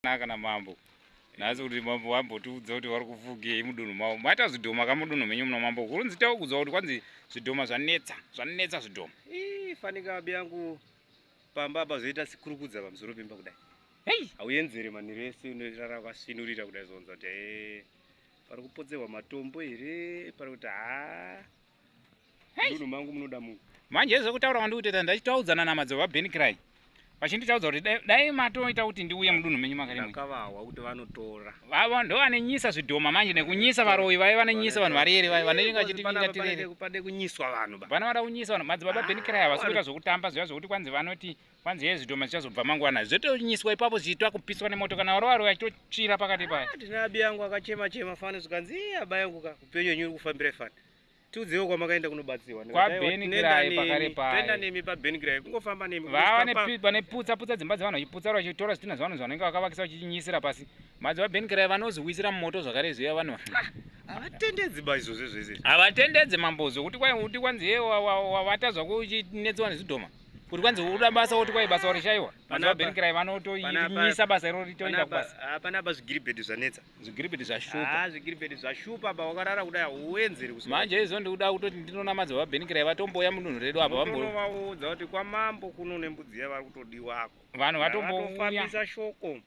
naka na mambo nhasi kuti mambo vambotiudza kuti vari kufugei mudunhu mavo maita zvidhoma ka mudunhu menyu muno mambo kurunzi taukudzwa kuti kwanzi zvidhoma zvanetsa zvanetsa zvidhoma ii fanika abi yangu pamba apa zvoita sikurukudza pamusoro pemba kudai hei hauenzere manhiro ese unorara wakasvinurira kudai zvonza kuti ee pari kupotserwa matombo here pari kuti haa Hey. mangu munoda munhu. Manje zvekutaura kwandiri kutoita ndachitaudzana namadzibaba Ben Cry. Vachinditaudza kuti dai matoita kuti ndiuye mudunhu menyu makarimwe. Ndakavawa kuti vanotora. Vavo ndo vanenyisa zvidhoma manje nekunyisa varoyi vaye vanenyisa vanhu varere vaye vanenge vachiti nyika tirere. Pade kunyiswa vanhu ba. Vana vada kunyisa vanhu madzibaba Ben Cry havasi kuita zvekutamba zviya zvekuti kwanzi vanoti kwanzi hezvi dhoma zvichazobva mangwana zvotonyiswa ipapo zvichiitwa kupiswa nemoto kana warova rova chitotsvira pakati paya ah, ndina abi yangu akachema chema fani zvikanzi iye aba yangu ka upenyu wenyu uri kufambira fani tiudziwo kwamakaenda kunobatsirwa kwabenigiraipakarepaenda nemi pabenigirayi kungofamba nemi vava vane putsa putsa dzimba dzevanhu vachiputsa vari vachitora zvitinha zvevanhu zvanenge vakavakisa vachichinyisira pasi madzi vabenigirayi vanoziwisira mumoto zvakare zviya vanhu ah, havatendedzi ba izvozvo zvese havatendedzi mambo zvokuti kwai uti kwanzi ye wavata zvakuchinetsewa nezvidhoma kuti kwanzi uda basa woti kwai basa warishaiwa vanzi vaberekerai vanotoimisa basa iro ritoenda kubasa hapana apa zvigiribhedhi zvanetsa zvigiribhedhi zvashupa ah, zvigiribhedhi zvashupa apa wakarara kudai hauenzeri kusi manje izvo ndikuda kutoti ndinonamadza vaberekerai vatomboya mudunhu redu apa vambovaudza kuti kwamambo kuno nembudzi yavari kutodiwako vanhu vatombofambisa shoko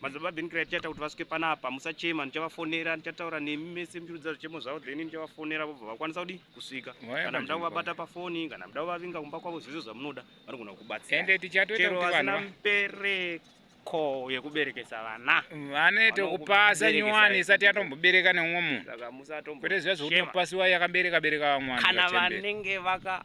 Madzibaba Ben Cry tichaita kuti vasuke panapa musachema ndichavafonera ndichataura nemi mese muchirudza zvichemo zvavo then ndichavafonera vobva vakwanisa kudi kusvika kana muda kuvabata pafoni kana muda kuvavinga kumba kwavo zvese zvamunoda vanogona kukubatsirachero vasina mbereko yekuberekesa vana vane tokupasa nyowani isati yatombobereka neumwe munhu saka musatombo kwete zviya zvekuti mupasi wayo yakabereka bereka vamwana kana vanenge vaka